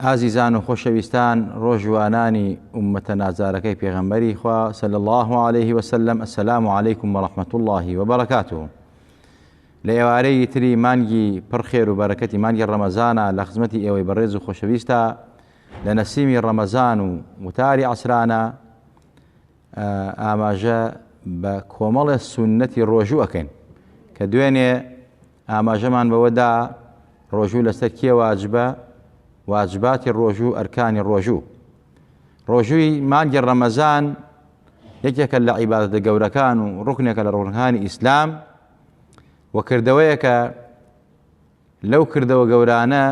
ئازیزان و خۆشەویستان ڕۆژوانانی ئوممەتە نازارەکەی پێغەمبەری خوا صلی الله علیه و سلم السلام علیکم و رحمت الله و برکاته لە ئێوارەی تری مانگی پڕ خێر و بەرەکەتی مانگی ڕەمەزانە لە خزمەتی ئێوەی بەڕێز و خۆشەویستە لە نەسیمی ڕەمەزان و وتاری عسرانە ئاماژە بە کۆمەڵە سونەتی ڕۆژوو ئەکەین کە دوێنێ ئاماژەمان بەوە دا ڕۆژوو لەسەر کێ واجبە، واجباتی ڕۆژوو، ئەرکانی ڕۆژوو. ڕۆژووی مانگی ڕەمەزان یەکێکە لە عیبادەتە گەورەکان و ڕوکنێکە لە ڕوونەکانی ئیسلام و کردەوەیەکە لەو کردەوە گەورانە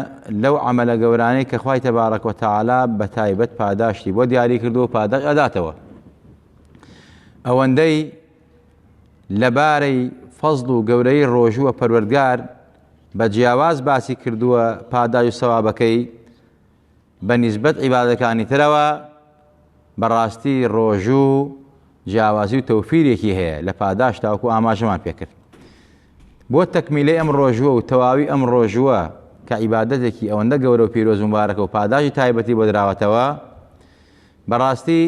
لەو عملە گەورانەی کە خی تەبارەک و تەعالا بە تایبەت پاداشتی بۆ دیاری کردو و پاداش ئەداتەوە ئەوەندەی لەبارەی فەزڵ و گەورەی ڕۆژووە پەروەردگار بە جیاواز باسی کردووە پاداش و سەوابەکەی بە نیسبەت عیبادەکانی ترەوە بەڕاستی ڕۆژوو جیاوازی و تەوفیرێکی هەیە لە پاداش تاوکو ئاماژەمان پێکرد بۆ تەکمیلی ئەم ڕۆژووە و تەواوی ئەم ڕۆژووە کە عیبادەتێکی ئەوەندە گەورە و پیرۆز و مبارەکە و پاداشی تایبەتی بۆ دراوەتەوە بەڕاستی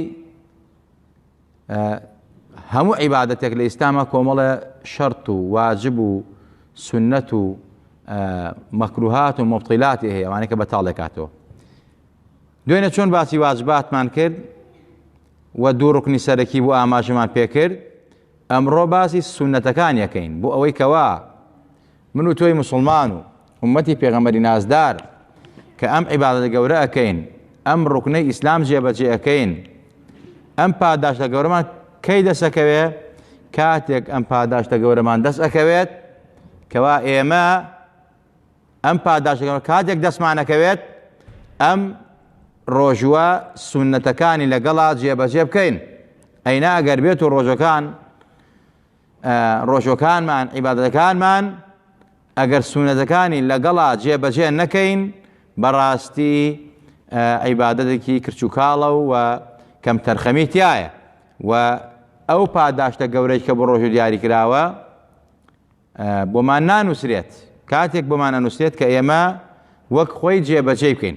هەموو عیبادەتێک لە ئیسلاما کۆمەڵە شەرت و واجب و سنەت و مەکروهات و مبطیلاتی هەیە وانەکە بە تاڵێکاتەوە دوێنە چۆن باسی واجباتمان کرد و دوو ڕکنی سەرەکی بۆ ئاماژەمان پێکرد ئەمڕۆ باسی سونەتەکان یەکەین بۆ ئەوەی کەوا من و تۆی مسوڵمان و ئوممەتی پێغەمبەری نازدار کە ئەم عیبادەتە گەورە ئەکەین ئەم ڕوکنەی ئیسلام جێبەجێ ئەکەین ئەم پاداشتە گەورەمان کەی دەسەکەوێ کاتێک ئەم پاداشتە گەورەمان دەست ئەکەوێت کەوا ئێمە ئەم پاداشتەکەەوە کاتێک دەستمانەکەوێت ئەم ڕۆژووە سونەتەکانی لەگەڵا جێبەجێ بکەین ئەینا ئەگەر بێت و ڕۆژەکان ڕۆژوەکانمان عیبادەتەکانمان ئەگەر سونەتەکانی لەگەڵا جێبەجێ نەکەین بەڕاستی عیبادەتێکی کرچوکاڵە و کەم تەرخەمی تایە و ئەو پاداشتە گەورەی کە بۆ ڕۆژو دیاری کراوە بۆمان نانووسرێت کاتێک بۆمان ئەنووسێت کە ئێمە وەک خۆی جێبەجێ بکەین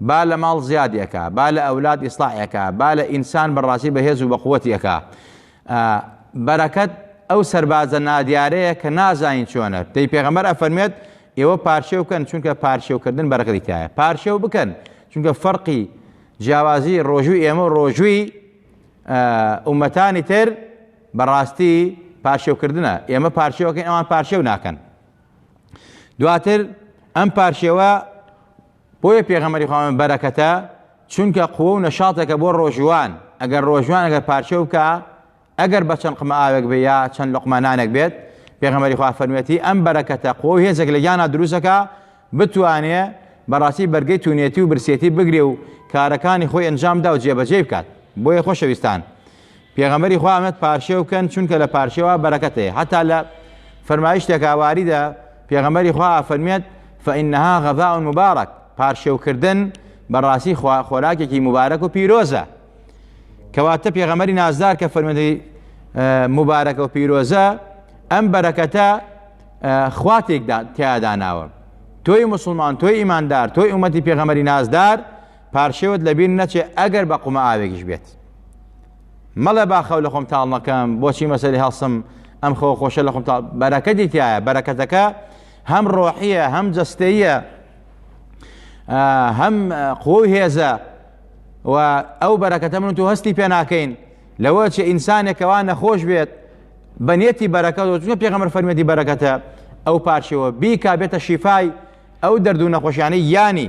با لە ماڵ زیادی ئەکا با لە ئەولاد ئیسلاحی ئەکا با لە ئینسان بە ڕاستی بە هێز و بە قوەتی ئەکا ئە بەرەکەت ئەو سەربازە نادیارەیە کە نازانین چۆنە دەی پێغەمبەر ئەفەرمێت ئێوە پارشێو کەن چونکە پارشێو کردن بەرەکەتی تایە پارشێو بکەن چونکە فەرقی جیاوازی ڕۆژووی ئێمە و ڕۆژووی ئومەتانی تر بەڕاستی پارشێوکردنە ئێمە پارشێوەکەین ئەوان پارشێو ناکەن دواتر ئەم پارشێوە بۆیە پێغەمبەری خوا فەرمووی بەرەکەتە چونکە قوە و نەشاطێکە بۆ ڕۆژوان ئەگەر ڕۆژوان ئەگەر پارچە بکا ئەگەر بە چەند قمە ئاوێک بێ یا چەند لقمە نانێک بێت پێغەمبەری خوا فەرموویەتی ئەم بەرەکەتە قوە و هێزێک لە گیانا دروستەکە بتوانێ بەڕاستی بەرگەی تونێتی و برسێتی بگرێ و کارەکانی خۆی ئەنجامدا و جێبەجێی بکات بۆیە خۆشەویستان پێغەمبەری خوا ئەمەت پارشێو کەن چونکە لە پارشێوا بەرەکەت هەیە هەتا لە فەرمایشتێکا واریدە پێغەمبەری خوا فەرمیێت فإنها غذاء مبارک پارشێوکردن بەڕاستی خۆراکێکی مبارەک و پیرۆزە کەواتە پێغەمەری نازدار کە فەرمەندی مبارەکە و پیرۆزە ئەم بەرەکەتە خواتێکدا تیاداناوە تۆی مسلمان تۆی ئیماندار تۆی ئومەتی پێغەمەری نازدار پارچەوت لە بیر نەچێ ئەگەر بە قومە ئاوێکیش بێت مەڵێ با خەو لە خۆم تاڵ نەکەم بۆچی مەسەری هەڵسم ئەم خۆ خۆشە لە خۆم تاڵ بەرەکەتی تایە بەرەکەتەکە هەم ڕۆحیە هەم جەستەیە هەم قوە و هێزە و ئەو بەرەکەتە من تو هەستی پێ ناکەین لەوە چ ئینسانێکەوە نەخۆش بێت بە نێتی بەرەکە چونکە پێغەمەر فەرمەتی بەرەکەتە ئەو پارچەوە بیکا بێتە شیفای ئەو دەردوو نەخۆشیانەی یانی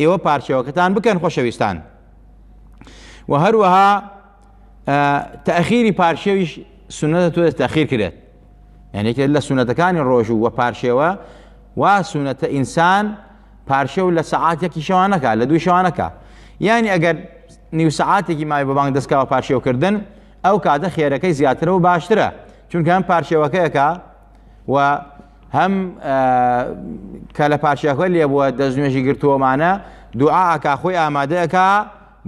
ئێوە پارچەوەکەتان بکەن خۆشەویستان و هەروەها تاخیری پارشێویش سونەتە تۆ تاخیر کرێت یعنیکە لە سونەتەکانی ڕۆژوو وە پارشێوە وا سونەتە ئینسان پارشێ و لە سەعاتێکی شەوانەکە لە دووی شەوانەکە یعنی ئەگەر نیو سەعاتێکی مای بە بانگ دەستکەوە پارشێوکردن ئەو کاتە خێرەکەی زیاترە و باشترە چونکە ئەم پارشێوەکەیەکە و هەم کە لە پاشیاخۆی لێ بووە دەست نوێژی گرتووەمانە دوعاکە خۆی ئامادەکە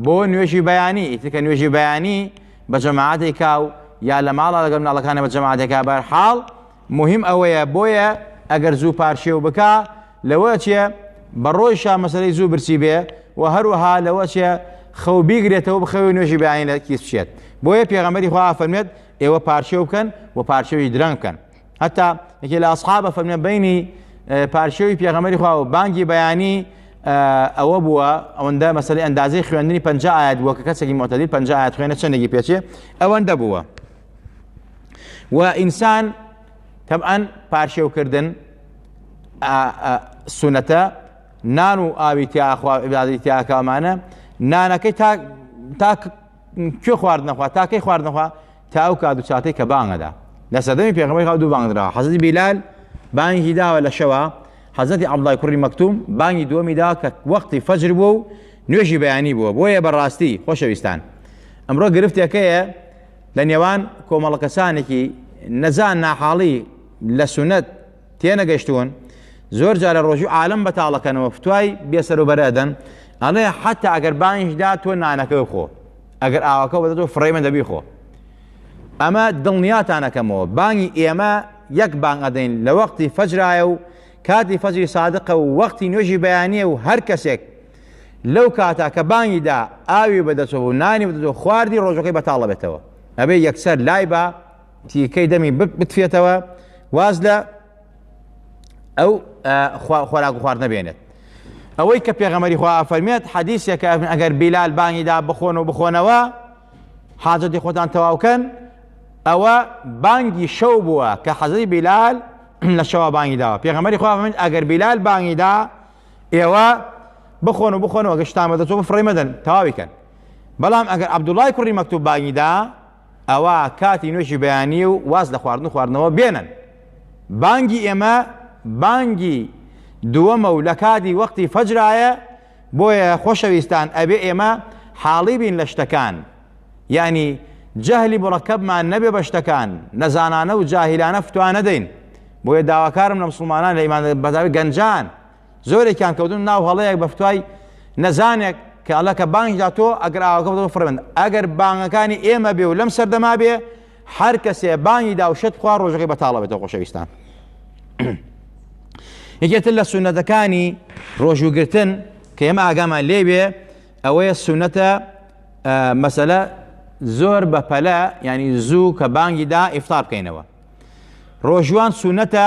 بۆ نوێژی بەیانی ئیتکە نوێژی بەیانی بە جەماعاتێکا و یا لە ماڵە لەگەم ناڵەکانە بە جەماعاتەکە بەر حاڵ مهم ئەوەیە بۆیە ئەگەر زوو پارشێو بکە لەوە چێ بە ڕۆیشە مەسەی زوو برسی بێ و هەروەها لەوە چێ خەو بیگرێتەوە بخەوی نوێژی بەیانی لە کیس بچێت بۆیە پێغەمەری خوا فەرمێت ئێوە پارچێو بکەن و پارچەوی درەنگ بکەن هەتا یەکێ لە ئەسحابە فەرمە بینی پارچەوی پێغەمەری خوا و بانگی بەیانی ئەوە بووە ئەوەندە مەسلی ئەندازەی خوێندنی پنج ئاات بووە کە کەسێکی مۆتەلی پنج ئاات خوێنە چندێکی پێچێ ئەوەندە بووە و ئینسان تەبعەن پارشێوکردن سونەتە نان و ئاوی تیاخوا عبادی تیاکەمانە نانەکەی تا کوێ خوارد نەخوا تاکەی خوارد نەخوا تا ئەو کات و چاتەی کە بانگەدا لە سەدەمی پێغەمەی خاو دوو بانگدرا حەزەتی بیلال بانگی داوە لە شەوە حەزەتی عبدای کوڕی مەکتوم بانگی دووەمی دا کە وەختی فەجر بوو و نوێژی بەیانی بووە بۆیە بەڕاستی خۆشەویستان ئەمڕۆ گرفتێکەیە لە نێوان کۆمەڵە کەسانێکی نەزان ناحاڵی لە سونەت تێنەگەشتوون زۆر جارە ڕۆژی عالم بەتاڵەکەنەوە فتوای بێسەروبەرە ئەدەن ئەڵێ حتا ئەگەر بانیشدا تۆ نانەکە خۆ ئەگەر ئاوەکە بەدە تۆ فڕێمە دەبی خۆ ئەمە دڵنیاتانەکەمەوە بانگی ئێمە یەک بانگ ئەدەین لە وەختی فەجرایە و کاتی فەجری سادقە و وەختی نوێژی بەیانە و هەر کەسێک لەو کاتا کە بانگیدا ئاوی بەدەچەوە و نانی بدەوە خواردی ڕۆژەکەی بەتاڵە بێتەوە ئەبێ یەکسەر لای بە تیکەی دەمی بتفێتەوە واز لە ئەو خۆراک و خوارد نەبێنێت ئەوەی کە پێغەمەری خوا ئافەرمێت حەدیسێکە ئەگەر بیلال بانگیدا بخۆن و بخۆنەوە حاجەتی خۆتان تەواوکەن ئەوە بانگی شەو بووە کە حەزری بیلال لە شەوا بانگی داوە پێغەمەری خوا من ئەگەر بیلال بانگیدا ئێوە بخۆن و بخۆنەوە گەشتان بەدەچۆ بفڕی مەدەن تەواویکەن بەڵام ئەگەر عبدوڵای کوڕی مەکتوب بانگیدا ئەوا کاتی نوێژی بەیانیە و واز لە خواردن و خواردنەوە بێنن. بانگی ئێمە بانگی دووەمە و لەکاتی وەقتی فەجرایە، بۆیە خۆشەویستان ئەبێ ئێمە حاڵی بین لە شتەکان، یانی جەهلی موڕەکەبمان نەبێ بە شتەکان، نەزانانە و جاهیلانە فتوا نەدەین، بۆیە داواکارم لە مسوڵمانان لە ئیمانداران، بەتایبەت گەنجان، زۆرێکیان کەوتن ناو هەڵەیەک بە فتوای نەزانێک کە ئەڵە کە بانگی دا تۆ ئەگەر ئاوەکە بەوە فڕێمن ئەگەر بانگەکانی ئێمە بێ و لەم سەردەما بێ هەر کەسێ بانگی دا و شت خوا ڕۆژەکەی بەتاڵە بێتەوە خۆشەویستان یەکێتر لە سونەتەکانی ڕۆژوگرتن کە ئێمە ئاگامان لێوێ ئەوەیە سونەتە مەسەلە زۆر بە پەلە ینی زوو کە بانگی دا ئیفتار بکەینەوە ڕۆژوان سونەتە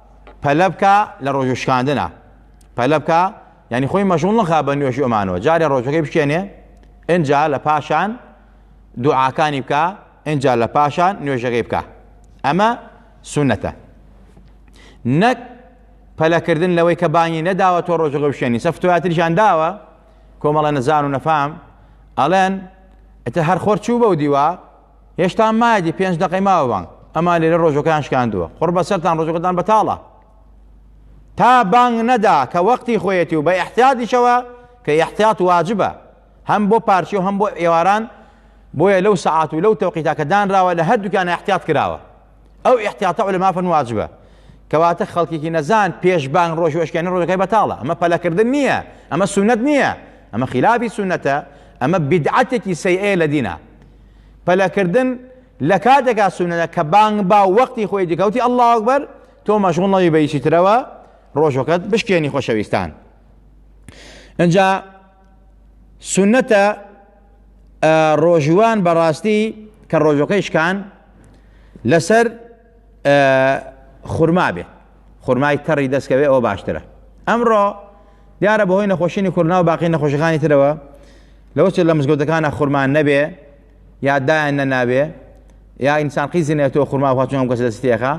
پەلە بکە لە ڕۆژ شکاندنە پەلە بکە یعنی خۆی مەشغول نەخا بە نوێژ ئەمانەوە جارێ ڕۆژەکەی بچێنێ ئەجا لە پاشان دوعاکانی بکە ئەجا لە پاشان نوێژەکەی بکە ئەمە سونەتە نەک پەلەکردن لەوەی کە بانگی نەداوە تۆ ڕۆژەکە بشێنی سەفتواتریشان داوە کۆمەڵە نەزان و نەفام ئەڵێن ئەتە هەر خۆر چوو بەو دیوە هێشتا مایەتی پێنج دەقەی ماوە بانگ ئەمان لێرە ڕۆژەکان شکاندووە قڕ بەسەرتان ڕۆژەکەتان بەتاڵە تا بانگ نەدا کە وەختی خۆیەتی و بە احتیاتیشەوە کە احتیات واجبە هەم بۆ پارچی و هەم بۆ ئێواران بۆیە لەو سعات و لەو تەوقیتا کە دانراوە لە هەردووکیان احتیات کراوە ئەو احتیاتە لە مافن واجبە کەواتە خەڵکێکی نەزان پێش بانگ ڕۆژ و ئەشکێنی ڕۆژەکەی بەتاڵە ئەمە پەلەکردن نییە ئەمە سونەت نییە ئەمە خلافی سونەتە ئەمە بدعاتێکی سەیئەیە لە دینە پەلەکردن لە کاتێکا سوننەتە کە بانگ با و وەقتی خۆی دکەوتی اللە اکبر تۆ مەشغوڵ نەبی بە هیچی ترەوە ڕۆژەکەت بشکێنی خۆشەویستان ئەجا سونەتە ڕۆژوان بەڕاستی کە ڕۆژەکەی شکان لەسەر خورما بێ خورمای تەڕی دەستکەوێ ئەوە باشترە ئەمڕۆ دیارە بەهۆی نەخۆشیی کورنا و باقی نەخۆشەکانی ترەوە لەوە چ لە مزگەوتەکانە خورمان نەبێ یا دایان نەناوێ یا ئینسان قیزی نێتەوە خورما خواچون ئەم کەس دەستێخە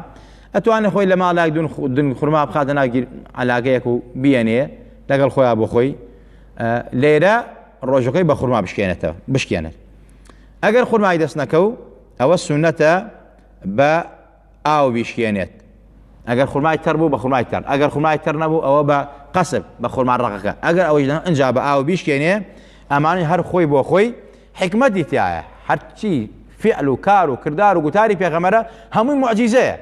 ئەتوانێت خۆی لە ماڵێک دون خورما بخاتە ناگیر علاگەیەک و بیەنێ لەگەڵ خۆیان بۆ خۆی لێرە ڕۆژەکەی بە خورما بشکێنێتەوە بشکێنێت ئەگەر خورمای دەست نەکە و ئەوە سونەتە بە ئاو بیشکێنێت ئەگەر خورمای تەڕ بوو بە خورمای تەڕ ئەگەر خورمای تەڕ نەبوو ئەوە بە قەسب بە خورما ڕەقەکە ئەگەر ئەوەی نە ئەجا بە ئاو بیشکێنێ ئەمانی هەر خۆی بۆ خۆی حکمەتی تایە هەرچی فعل و کار و کردار و گوتاری پێغەمەرە هەمووی معجیزەیە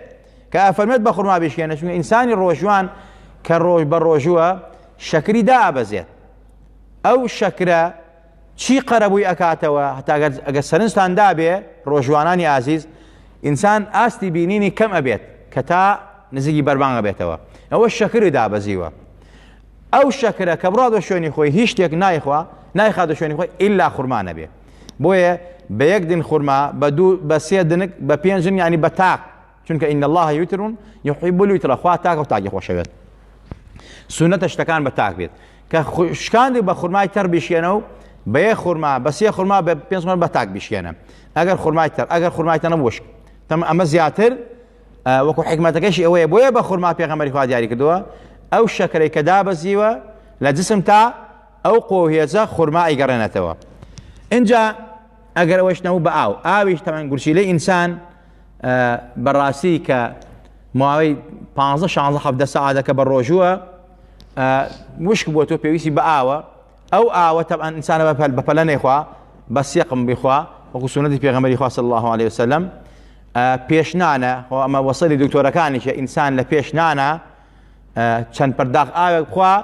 کە ئەفەرمێت بە خورما بیشکێنە چونکە ئینسانی ڕۆژوان کە ڕۆژ بە ڕۆژووە شەکری دابەزێت ئەو شەکرە چی قەرەبووی ئەکاتەوە هەتا ئەگەر سەرنجتان دابێ ڕۆژوانانی ئازیز ئینسان ئاستی بینینی کەم ئەبێت کە تا نزیکی بەربانگە بێتەوە ئەوە شەکری دابەزیوە ئەو شەکرە کە بڕادە شوێنی خۆی هیچ شتێک نایخوا نایخاتە شوێنی خۆی ئللا خورمانە بێ بۆیە بە یەک دن خورما بە دوو بە سێ دنک بە پێنجن ینی بە تاق چونکە ان اللە یوتر یحب الیتر خوا تاکە و تاکی خۆشەوێت سونەتە شتەکان بە تاک بێت کە شکاندی بە خورمای تەر بشێنە و بەیە خورما بەسێ خورما بە پێ بە تاک بشێنە ئەگەر خورمای تەر ئەگەر خورمای تەنە وشک تەم ئەمە زیاتر وەکو حکمەتەکەشی ئەوەیە بۆیە بە خورما پێغەمەری خوا دیاری کردووە ئەو شەکرەی کە دابەزیوە لە جسم تا ئەو قۆهێزە خورما ئەیگەڕێنێتەوە اینجا ئەگەر ئەوەش نەوە بە ئاو ئاویش تەمەن گورچیلەی ئینسان بەڕاستی کە ماوەی پانزە شانزە حەفدە سەعاتەکە بە ڕۆژووە وشک بۆ تۆ پێویستی بە ئاوە ئەو ئاوە تەبان ئینسانە بە پەلە نەیخوا بە سێقم بخوا وەکو سونەتی پێغەمەری خوا صلی الله عليه وسلم پێشنانە خۆ ئەمە وەسەری دکتۆرەکانیشە ئینسان لە پێشنانە چەند پەرداخ ئاوێک بخوا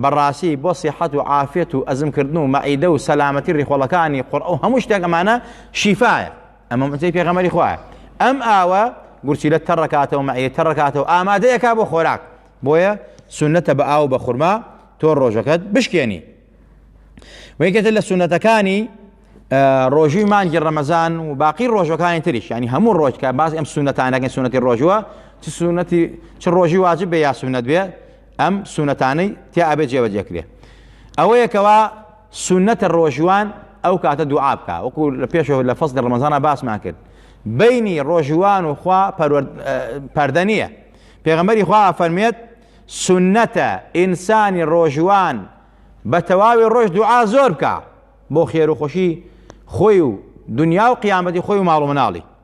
بەڕاستی بۆ سیحەت و عافێت و ئەزمکردن و مەعیدە و سەلامەتی ڕیخۆڵەکانی قڕ ئەو هەموو شتێک ئەمانە شیفاە ئەمە موعجزەی پێغەمبەری خوایە ئەم ئاوە گورچیلە تەڕەکاتەوە مەعیە تەڕەکاتەوە ئامادەیەکا بۆ خۆراک بۆیە سنەتە بە ئاو بە خورما تۆ ڕۆژەکەت بشکێنی وەیکەتە لە سونەتەکانی ڕۆژووی مانگی ڕەمەزان و باقی ڕۆژەکانی تریش ینی هەموو ڕۆژکە باز ئەم سونەتانەکەن سونەتی ڕۆژووە چ سونەتی چ ڕۆژی واجب بێ یا سونەت بێ ئەم سونەتانەی تیا ئەبێ جێبەجێکرێ ئەوەیەکەوە سوننەتە ڕۆژوان ئەو کاتە دوعا بکا وەکو لە پێشەوە لە فەزلی ڕمەزانە باسمان کرد بینی ڕۆژوان و خوا پەردە نییە پێغەمەری خوا فەرمێت سنەتە ئینسانی ڕۆژوان بە تەواوی ڕۆژ دوعا زۆر بکە بۆ خێر و خۆشی خۆی و دنیا و قیامەتی خۆی و ماڵ و مناڵی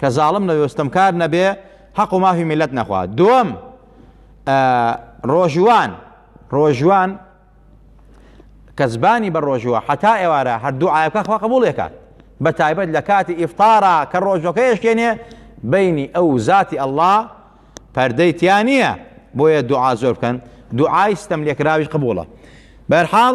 کە زاڵم نەبێ و ستەمکار نەبێ حەق و مافی میلەت نەخوا دووەم ڕۆژوان ڕۆژوان کە زبانی بە ڕۆژوە حتا ئێوارە هەردوو ئاەکە خوا قبولێکات بە تایبەت لە کاتی ئیفتارا کە ڕۆژەکە یشکێنێ بینی ئەو ذاتی ئەله پەردەی تیا نییە بۆیە دوعا زۆر بکەن دوعای ستەم لێکراوی قبوڵە بەرحاڵ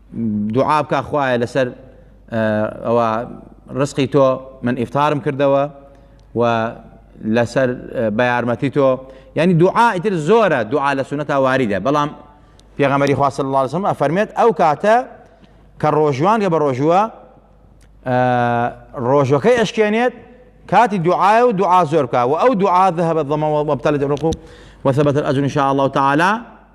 دوعا بکە خوایە لەسەر ئەوە ڕسقی تۆ من ئیفتارم کردەوە و لەسەر بە یارمەتی تۆ ینی دوعا ئیتر زۆرە دوعا لە سونەتا واریدە بەڵام پێغەمەری خواست اللهزم ئەفەرمێت ئەو کاتە کە ڕۆژوان گە بە ڕۆژووە ڕۆژەکەی ئەشکێنێت کاتی دوعاە و دوعا زۆر بکە و ئەو دوعاە هەبە دڵمەوە بەبتەلت ڕق و وەسەبەت ئەجون شاء الله تعالی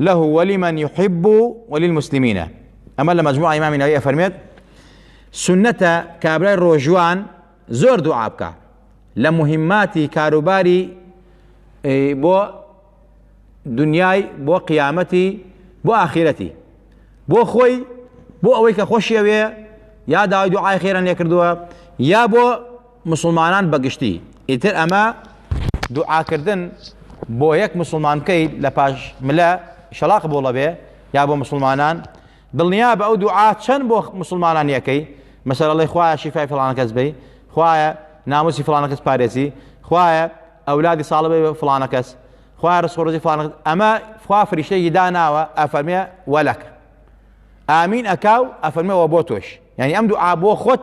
له ولمن يحب وللمسلمين ئەمە لە مجموعە ئیمامی نەوەی ئەفەرمێت سنەتە کابرای ڕۆژوان زۆر دوعا بکە لە مهماتی کاروباری بۆ دنیای بۆ قیامەتی بۆ ئاخیرەتی بۆ خۆی بۆ ئەوەی کە خۆشیەوێ یا داوای دوعای خێران لێ کردووە یا بۆ مسوڵمانان بە گشتی ئیتر ئەمە دوعاکردن بۆ یەک مسلمان بکەیت لە پاش ملە شەڵا قبوڵە بێ یا بۆ مسلمانان دڵنیا بە ئەو دوعا چەند بۆ مسلمانان یەکەی مەسەر ئەڵی خوایە شیفای فلان کەس بی خوایە ناموسی فلانە کەس پارێزی خوایە ئەولادی ساڵە بێ فلانە کەس خوای ڕسخۆڕزی فلان ئەمە خوا فریشتێکی داناوە ئەفەرمێ وەلەکە ئامین ئەکاو ئەفەرمەوە بۆ تۆش یعنی ئەم دوعا بۆ خۆت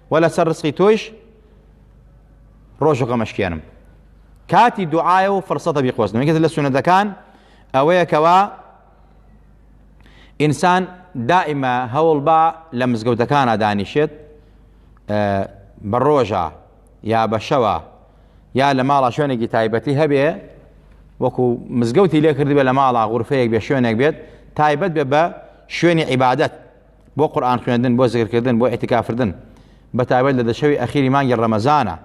وەلا سەر ڕسقی تۆیش ڕۆژ و غەمەشکێنم کاتی دوعاە و فرسەتە بیقۆزنەوە کەس لە سونەتەکان ئەوەیە کەوا ئینسان دائیمە هەوڵ با لە مزگەوتەکانە دانیشێت بە ڕۆژە یا بە شەوە یا لە ماڵە شوێنێکی تایبەتی هەبێ وەکو مزگەوتی لێکردبێ لە ماڵە غورفەیەک بێ شوێنێک بێت تایبەت بێ بە شوێنی عیبادەت بۆ قورئان خوێندن بۆ زیکرکردن بۆ ئیعتیکافردن بە تایبەت لە دە شەوی ئەخیری مانگی ڕەمەزانە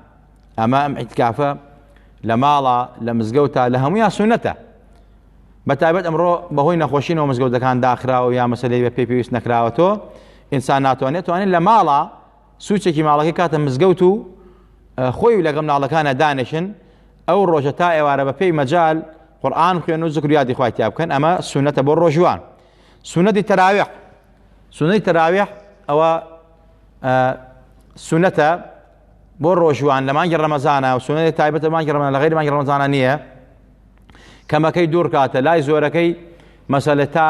ئەمە ئەم ئیعتیکافە لە ماڵە لە مزگەوتە لە هەموویان سونەتە بە تایبەت ئەمڕۆ بەهۆی نەخۆشینەوە مزگەوتەکان داخراوە و یا مەسەلەی بە پێ پێویست نەکراوە تۆ ئینسان ناتوانێت توانێت لە ماڵە سوچێکی ماڵەکەی کاتە مزگەوت و خۆی و لەگەم ناڵەکانە دانێشن ئەو ڕۆژە تا ئێوارە بە پێی مەجال قورآن خوێن و زکریاتی خوای تیا بکەن ئەمە سونەتە بۆ ڕۆژوان سونەتی تەراویح، سونەتی تەراویح ئەوە سونەتە بۆ ڕۆژوان لە مانگی ڕەمەزانە و سونەتی تایبەتە بە مانگی ڕەمەزان لە غەیری مانگی ڕەمەزانە نییە کەمەکەی دوو ڕکاتە لای زۆرەکەی مەسەلە تا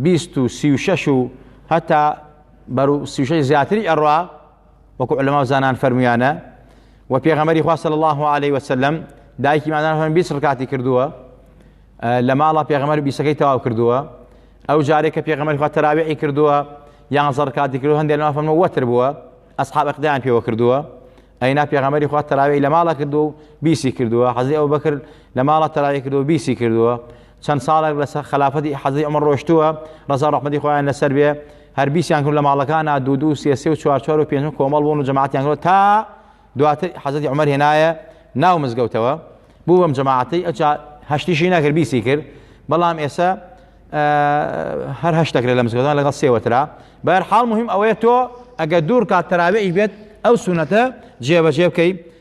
بیست و سی و شەش و هەتا بەرو سیشەی زیاتری ئەڕوا وەکو علەماو زانان فەرمویانە و پێغەمەری خوا صلی الله علیه وسلم دایکی مادان فەرمی 20 ڕکاتی کردووە لە ماڵە پێغەمەر بیسەکەی تەواو کردووە ئەو جارێک کە پێغەمەری خوا تەراویعی کردووە یان زەڕکاتی کردو هەندێک لەما فەرمە وەتر بووە ئەسحاب اقدام پێوە کردووە ئەینا پێغەمەری خوا تەراوی لە ماڵە کردو بیسی کردووە حەزی ئەو بەکرد لە ماڵە تەراوی کردو بیسی کردووە چەند ساڵێک لە سەر خەلافەتی حەزی عومەر ڕۆشتووە ڕەزا ڕەحمەتی خۆیان لەسەر بێ هەر بیسیان کرد لە ماڵەکانە دوو دوو سێ سێ و چوار چوار و پێنج کۆمەڵ بوون و جەماعەتیان کرد تا دواتر حەزەتی عومەر هێنایە ناو مزگەوتەوە بوو بەم جەماعەتەی ئەجا هەشتیشی نەکرد بیسی کرد بەڵام ئێستا هەر هەشتەکرێت لە مزگەوتان لەگەڵ سێوەترا بەر حاڵ مهم ئەوەیە تۆ ئەگە دوور کات تەراویش بێت ئەو سونەتە جێبەجێ بکەیت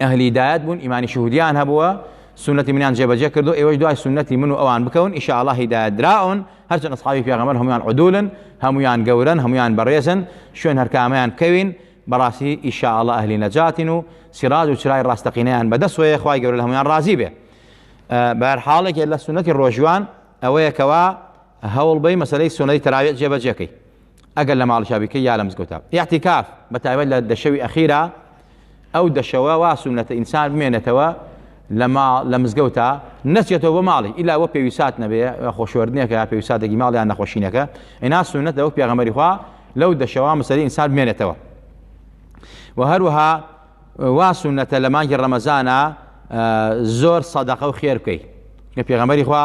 ئەهلی هیدایەت بوون ئیمانی شهودیان هەبووە سنەتی منیان جێبەجێ کردو ئێوەش دوای سنەتی من و ئەوان بکەون ئیشاءالله هیدایەت دراون هەرچەند ئەصحابی پێغەمبەر هەمویان عدولن هەمویان گەورەن هەمویان بەڕێزن شوێن هەرکامیان کەوین بەڕاستی ئیشاءالله ئەهلی نەجاتین و سیراج و چرای ڕاستەقینەیان بەدەست وەیە خوای گەورە هەمویان ڕازی بێ بەر حاڵێک لە سنەتی ڕۆژوان ئەوەیە کەوا هەوڵ بەی مەسلەی سنەی تراویح جێبەجێکەی ئەگەر لە ماڵیشا بیکەی یا لە مزگەوتا ئیعتیکاف بە تایبەت لە دە شەوی ئەخیرا ئەو دەشەوە وا سونەتە ئینسان بمێنێتەوە لە ماڵ لە مزگەوتا نەچێتەوە بۆ ماڵی ئیلا بۆ پێویسات نەبێ خۆشوەردنێکە یا پێویساتێکی ماڵ یان نەخۆشینەکە ئینا سونەت لەوە پێغەمەری خوا لەو دەشەوە مسەری ئینسان بمێنێتەوە و هەروەها وا سونەتە لە مانگی ڕەمەزانە زۆر سەدەقە و خێر بکەیت لە پێغەمەری خوا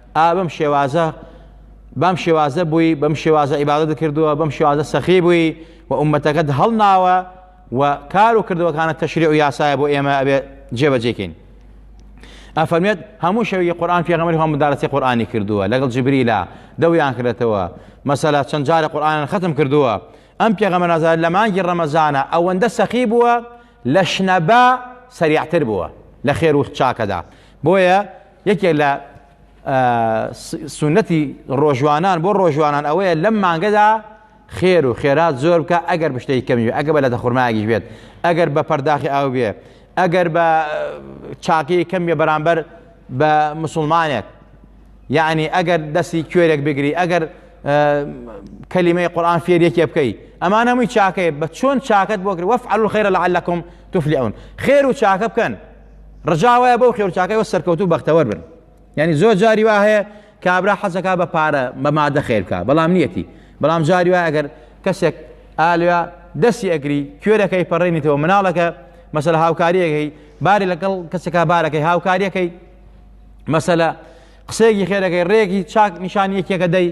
ئا بەم شێوازە بەم شێوازە بووی بەم شێوازە عیبادەت کردووە بەم شێوازە سەخی بووی و ئومەتەکەت هەڵناوە و کار و کردوەکانە تەشری و یاسایە بۆ ئێمە ئەبێ جێبەجێکەین ئەفەرمێت هەموو شەوی قورآن پێغەمەری هەم مدارەتی قورآانی کردووە لەگەڵ جبریلا دەویان کردێتەوە مەسەلا چەند جارە قورآان ختم کردووە ئەم پێغەمە نازار لە مانگی ڕەمەزانە ئەوەندە سەخی بووە لە شنەبا سەریعتر بووە لە خێر وخت چاکەدا بۆیە یەکێک لە سونەتی ڕۆژوانان بۆ ڕۆژوانان ئەوەیە لەم مانگەدا خێر و خێرات زۆر بکە ئەگەر بشتەی کەمی ئەگە بە لە دەخورمایگیش بێت ئەگەر بە پەرداخی ئاو بێ ئەگەر بە چاکی کەم بێ بەرامبەر بە مسلمانێک یعنی ئەگەر دەستی کوێرێک بگری ئەگەر کەلیمەی قورآان فێر یەکێ بکەی ئەمان هەمووی چاکەیە بە چۆن چاکت بۆ کرد وەف عەلو خێرە لە عەلەکم تفلعون خێر و چاکە بکەن ڕجا وایە بەو خێرچاکەی وە سەرکەوتوو بەختەوەر بن یعنی زۆر جاری وا هەیە کابرا حەزەکە بە پارە بە مادە خێر بکە بەڵام نیەتی بەڵام جاری وای ئەگەر کەسێک ئالیا دەستی ئەگری کوێرەکەی پەڕێنیتەوە مناڵەکە مەسەل هاوکاریەکەی باری لەگەڵ کەسەکە بارەکەی هاوکاریەکەی مەسەلە قسەیەکی خێرەکەی ڕێکی چاک نیشان یەکێکە دەی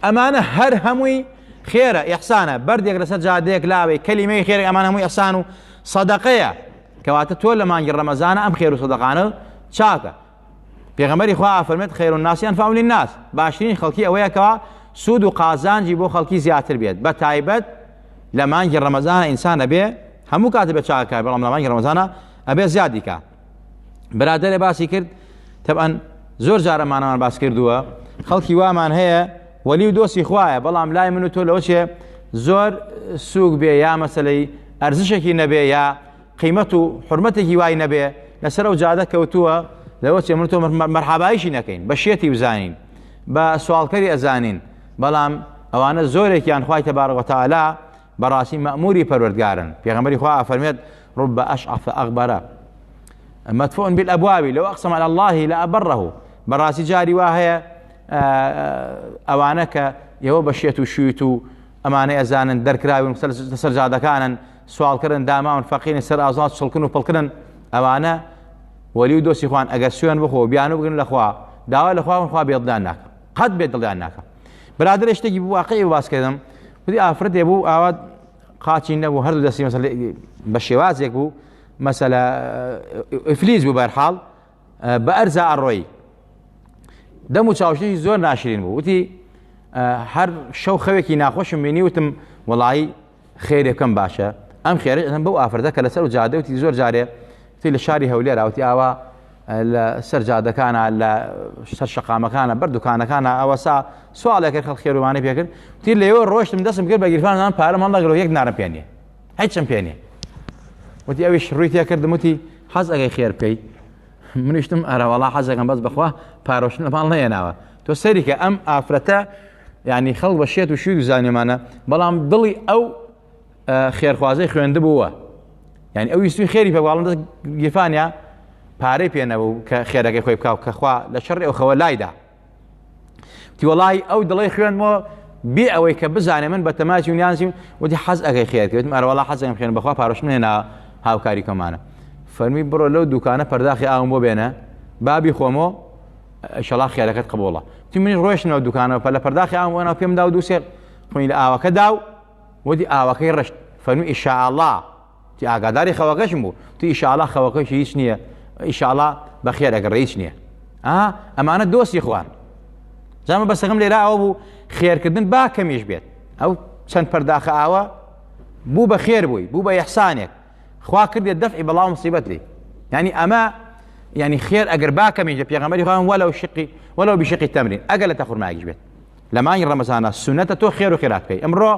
ئەمانە هەر هەمووی خێرە ئەحسانە بەردێک لەسەر جادەیەک لاوەی کەلیمەی خێرە ئەمان هەمووی ئەسان و سەدەقەیە کەواتە تۆ لە مانگی ڕەمەزانە ئەم خێر و سەدەقانە چاکە پێغەمبەری خوا فەرمێت خیر الناس انفعهم للناس باشترین خەڵکی ئەوەیە کەوا سوود و قازانجی بۆ خەڵکی زیاتر بێت بە تایبەت لە مانگی ڕەمەزانە ئینسان ئەبێ هەموو کاتە بێ چاکار بەڵام لە مانگی ڕەمەزانە ئەبێ زیادیکە برادەرێ باسی کرد تەبەن زۆر جارەمانەمان باس کردووە خەڵکی وامان هەیە وەلی و دۆستی خوایە بەڵام لای من و تۆ لەوە چێ زۆر سووک بێ یا مەسلەی ئەرزشێکی نەبێ یا قیمەت و حرمەتێکی وای نەبێ لەسەر و جادە کەوتووە لەوە چێ من تۆ مەرحابایشی نەکەین بە شێتی وزانین بە سوالکەری ئەزانین بەڵام ئەوانە زۆرێکیان خخوای تەبارەوەتەعالا بەڕاستی مەئموری پەروەردگارن، پێغەمبەری خوا ئافەرمێت، رب اشعث اغبر مدفوع بالابواب لو اقسم على الله لابره، بەڕاستی جاری وا هەیە ئەوانە کە ئێوە بە شێت و شویت و ئەمانەی ئەزانن دەرکراون سەر جادەکانن سوالکردن داماون فەقیرن سەر ئازاد چڵکن و پڵکردن ئەوانە وەلی و دۆسی خوان ئەگەر سوێن بخۆ بیانو بگرن لەخوا داوا لەخواون خوا بێڵدان ناکە قەت بێ دڵیان ناکە برادرە شتێکی بواقعی واسکردم خودی ئافرەتێ بوو ئاوا قاچی نەبوو هەردوو دەستی مەسەل بە شێوازێک بوو مەسەلە ئفلیز بوو بەرحاڵ بە ئەرزا ئەڕۆی دەم و چاوشی زۆر ناشرین بوو وتی هەر شەو خەوێکی ناخۆشم بینی وتم وڵایی خێرێکم باشە ئەم خێرەم بەو ئافرەتە کە لەسەر و جادەوتی زۆر جارێ تی لە شاری هەولێراوتی ئاوا لە سەر جادەکانە لە سەر شقامەکانە بەر دوکانەکانە ئەوەسا سوالێکە خەڵ خێروانەی پێکرد تی لەوە ڕۆشتم دەستم کرد بە گیرفانان پارە مەڵەگەڵ یەک نارم پێێ هیچم پێێ وتی ئەویش ڕووی تێکردم وتی حەز ئەگەی خێر بکەی منیشتم ئەرەوەڵا حەزەکەم بەس بخوا پارۆشن لەمان نەیەناوە تۆ سەریکە ئەم ئافرەتە ینی خەڵ بە شێت و شووی زانێمانە بەڵام دڵی ئەو خێرخوازەی خوێندبووە یعنی ئەو ویستوی خێری پێواڵم دەست گیرفانیا پارەی پێنەبوو کە خێرەکەی خۆی بکاو کەخوا لە شەڕی ئەو خەوە لایدا تیوەڵی ئەو دڵی خوێنمەوە بێ ئەوەی کە بزانێ من بە تەماچی و نیازیم وتی حەز ئەگەی خێرکردم ئەرواڵا حەزم خوێن بەخوا پارشم هێنا هاوکاری کەمانە فەرمی بڕۆ لەو دوکانە پەرداخی ئاوم بۆ بێنە بابی خۆمۆ شەڵا خێرەکەت قبوڵە تی منی ڕۆشتنەوە دوکانەوە پە لە پەرداخی ئاوم وەنا پێمدا و دووسێ خوین لە ئاوەکەدا و وتی ئاوەکەی ڕشت فەرمووی ئیشائەڵا تی ئاگاداری خەوەکەشم بوو تی ئیشائەڵا خەوەکەشی هیچ نییە ئیشائەڵا بەخێر ئەگەڕێ هیچ نییە ئا ئەمانە دۆستی خوان جامە بەسەکەم لێرا ئەوە بوو خێرکردن با کەمیش بێت ئەو چەند پەرداخە ئاوە بوو بە خێر بووی بوو بە یحسانێک خوا کردێت دەفعی بەڵاو مصیبەت لی ینی ئەمە ینی خێر ئەگەر باکەمیش لە پێغەمەری خۆیان وەلەو شقی وەلەو بشقی تەمرین ئەگەر لە تەخورماگیش بێت لە مانگی ڕەمەزانە سونەتە تۆ خێر و خێرات بکەی ئەمڕۆ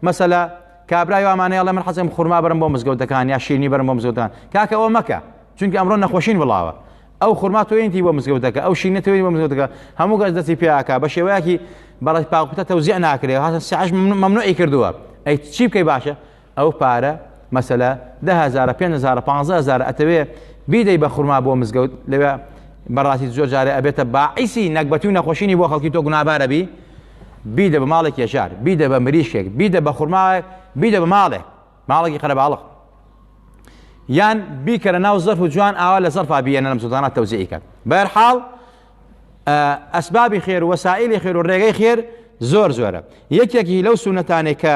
مەسەلە کابرای وامانەیە ئەڵێ من حەزم خورما بەرم بۆ مزگەوتەکان یا شیرنی بەرم بۆ مزگەوتان کاکە ئەوە مەکە چونکە ئەمڕۆ نەخۆشین وڵاوە ئەو خورما توێنتی بۆ مزگەوتەکە ئەو شینە توێنی بۆ مزگەوتەکە هەموو گەز دەستی پیاکە بە شێوەیەکی بەڵێ پاکوتە تەوزیع ناکرێ هاتە سعش ممنوعی کردووە ئەی چی بکەی باشە ئەو پارە مەسەلە دە هەزارە پێنج هەزارە پانزە هەزارە ئەتەوێ بیدەی بە خورما بۆ مزگەوت لەوێ بەڕاستی زۆر جارێ ئەبێتە باعیسی نەگبەتی و نەخۆشینی بۆ خەڵکی تۆ گونابارە بی بیدە بە ماڵێک یەژار بیدە بە مریشکێک بیدە بە خورماوێک بیدە بە ماڵێ ماڵێکی قەرەباڵق یان بیکەرە ناو زەرف و جوان ئاوا لە زەرفا بیەنە لەم زودانە تەوزیعی کات بەرحاڵ ئەسبابی خێر وەسائلی خێر و ڕێگەی خێر زۆر زۆرە یەکێکی لەو سونەتانێک کە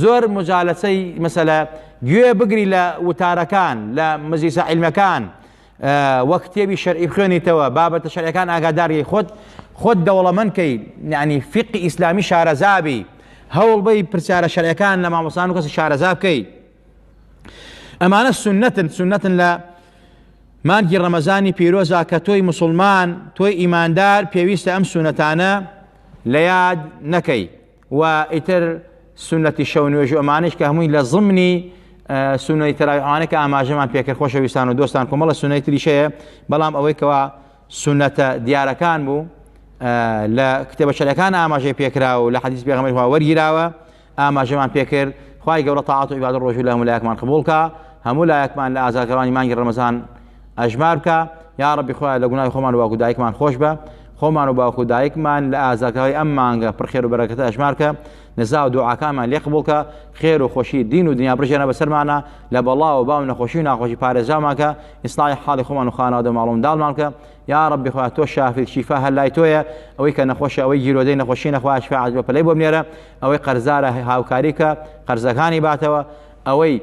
زۆر مجالەسەی مەسەلە گوێ بگری لە وتارەکان لە مەجلیسە عیلمەکان وە کتێبی شەرعی بخوێنیتەوە بابەتە شەرعەکان ئاگاداری خۆت خۆت دەوڵەمەند کەی یعنی فقی ئیسلامی شارەزابی هەوڵ بەی پرسیارە شەرعەکان لە مامۆسان و کەسی شارەزا بکەی ئەمانە سنەتن سنەتن لە مانگی ڕەمەزانی پیرۆزا کە تۆی مسلمان تۆی ئیماندار پێویستە ئەم سونەتانە لە یاد نەکەی و ئیتر سونەتی شەو نوێژ و ئەمانش کە هەمووی لە ضمنی سونەی تەراویحانە کە ئاماژەمان پێکرد خۆشەویستان و دۆستان کۆمەڵە سونەی تریشەیە بەڵام ئەوەی کەوا سونەتە دیارەکان بوو لە کتێبە شەرەکان ئاماژەی پێکرا و لە حەدیث پێغەمبەر وەرگیراوە ئاماژەمان پێکرد خوای گەورە تاعات و عیبادە ڕۆژوو لە هەموو لایەکمان قبوڵکە هەموو لایەکمان لە ئازارکەرانی مانگی ڕەمەزان ئەژمار بکە یا ڕەبی خۆیان لە گوناهی خۆمان واکو دایکمان خۆش بە خۆمان و باوکو دایکمان لە ئازاکەوەی ئەم مانگە پرخێر و بەرەکەتە ئەژمارکە نزا و دوعاکانمان لێ قبولکە خێر و خۆشی دین و دنیا بژێنە بەسەرمانە لە بەڵا و باو نەخۆشی و ناخۆشی پارێزامانکە ئیسلای حاڵی خۆمان و خانەوادە ماڵم داڵمانکە یا ڕبی خۆیان تۆ شافی شیفا هەر لای تۆیە ئەوەی کە نەخۆشە ئەوەی گیرۆدەی نەخۆشی نەخوا شفاعت بە پلەی بۆ بنێرە ئەوەی قەرزارە هاوکاریکە قەرزەکانی باتەوە ئەوەی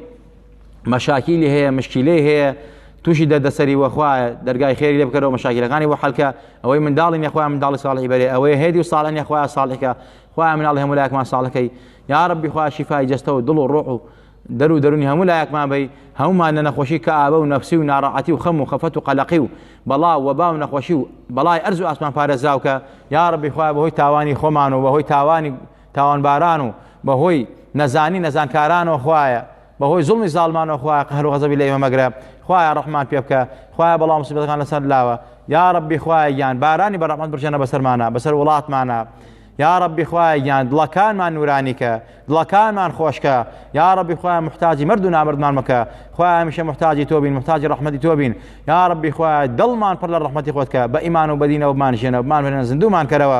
مەشاکیلی هەیە مشکیلەی هەیە تووشی دەردەسەری وەخوا دەرگای خێری لێ بکەرەوە مەشاکیلەکانی بۆ حەلکە ئەوەی منداڵی نەخوای منداڵی ساڵی بەرێ ئەوەیە هێدی و ساڵە نەخوای ساڵێکە خوای مناڵی هەموو لایەکمان ساڵەکەی یا ڕبی خوا شیفای جەستە و دڵ و ڕۆح و دەر و دەرونی هەموو لایەکمان بی هەمومان لە نەخۆشی کە ئابە و نەفسی و ناڕەعەتی و خەم و خەفەت و قەلەقی و بەڵا و وەبا و نەخۆشی و بەڵای ئەرز و ئاسمان پارێزاوکە یا ڕبی خوا بەهۆی تاوانی خۆمان و بەهۆی تاوانی تاوانباران و بەهۆی نەزانی نەزانکارانەوە خوایە بەهۆی زوڵمی زاڵمانەوە خوایە قەهر و غەزەبی لە ئێمە مەگرە خوایە ڕەحمان پێ بکە خوایە بەڵام مسیبەتەکان لەسەر لاوە یا ڕەبی خوایە گیان بارانی بە ڕەحمەت برژێنە بەسەرمانە بەسەر وڵاتمانە یا ڕەبی خوایە گیان دڵەکانمان نورانیکە دڵەکانمان خۆشکە یا ڕەبی خوایە محتاجی مرد و نامردمان مەکە خوایە هەمیشە محتاجی تۆ بین محتاجی ڕەحمەتی تۆ بین یا ڕەبی خوایە دڵمان پڕ لە ڕەحمەتی خۆتکە بە ئیمان و بەدینەوە بمان ژێنە بمان هێنە زیندومان کەرەوە